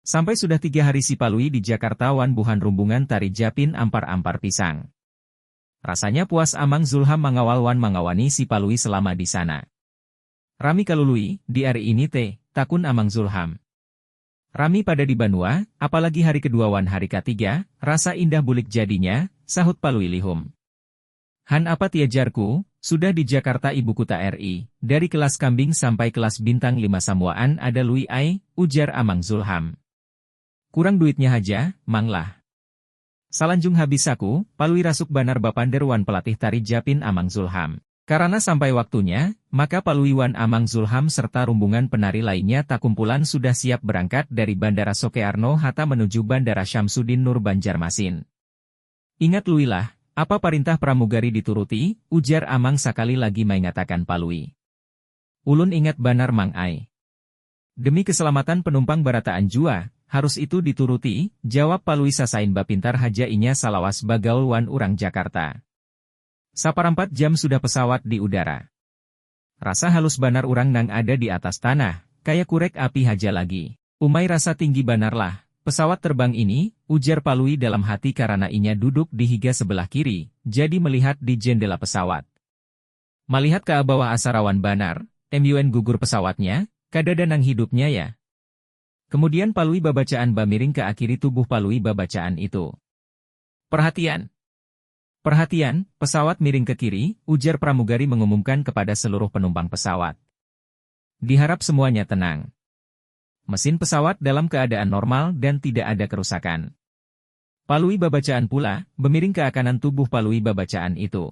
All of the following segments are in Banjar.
Sampai sudah tiga hari si Palui di Jakarta wan buhan rumbungan tari Japin ampar-ampar pisang. Rasanya puas Amang Zulham mangawal wan mangawani si Palui selama di sana. Rami ka Lului, di ari ini te? takun Amang Zulham. Rami pada di banua, apalagi hari kedua wan hari katiga, rasa indah bulik jadinya, sahut Palui lihum. Han apa tia jarku, sudah di Jakarta ibu kuta RI, dari kelas kambing sampai kelas bintang lima samuaan ada Lui ai, ujar Amang Zulham. Kurang duitnya haja, Mang lah. Salanjung habis saku, Palui rasuk banar bapander wan pelatih tari Japin Amang Zulham. Karana sampai waktunya, maka Palui wan Amang Zulham serta rumbungan penari lainnya takumpulan sudah siap berangkat dari Bandara Sokearno Hatta menuju Bandara Syamsuddin Nur Banjarmasin. Ingat Lui lah, apa parintah pramugari dituruti, ujar Amang sakali lagi maingatakan Palui. Ulun ingat banar Mang ai. Demi keselamatan penumpang barataan jua, harus itu dituruti, jawab Palui sasain bapintar haja inya salawas bagaul wan urang Jakarta. Saparampat jam sudah pesawat di udara. Rasa halus banar urang nang ada di atas tanah, kaya kurek api haja lagi. Umai rasa tinggi banarlah pesawat terbang ini, ujar Palui dalam hati karana inya duduk di higa sebelah kiri, jadi melihat di jendela pesawat. Malihat ka bawah asa rawan banar, MUN gugur pesawatnya, kadada nang hidupnya ya. Kemudian Palui babacaan bamiring ka akiri tubuh Palui babacaan itu. Perhatian! Perhatian! Pesawat miring ke kiri, ujar pramugari mengumumkan kepada seluruh penumpang pesawat. Diharap semuanya tenang. Mesin pesawat dalam keadaan normal dan tidak ada kerusakan. Palui babacaan pula, bemiring ka kanan tubuh Palui babacaan itu.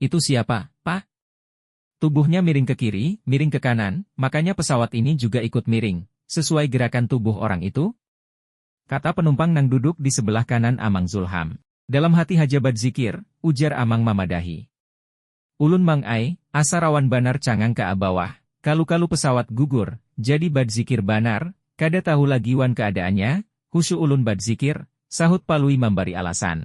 Itu siapa, Pak? Tubuhnya miring ke kiri, miring ke kanan, makanya pesawat ini juga ikut miring, sesuai gerakan tubuh orang itu? Kata penumpang nang duduk di sebelah kanan Amang Zulham. Dalam hati haja badzikir, ujar Amang mamadahi. Ulun Mang ai, asa rawan banar cangang ka abawah, kalu-kalu pesawat gugur, jadi badzikir banar, kada tahu lagi wan keadaannya, husyuk ulun badzikir, sahut Palui mambari alasan.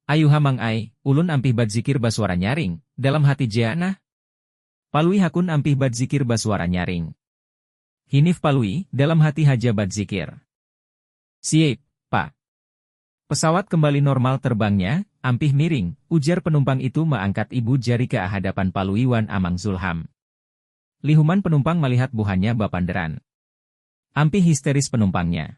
Ayuha Mang ai, ulun ampih badzikir basuara nyaring, dalam hati jea nah. Palui Hakun ampih badzikir basuara nyaring. Hinif Palui, dalam hati haja badzikir. Siaip, Pak. Pesawat kembali normal terbangnya, ampih miring, ujar penumpang itu meangkat ibu jari ke ahadapan Palui wan Amang Zulham. Lihuman penumpang malihat buhannya bapanderan. Ampih histeris penumpangnya.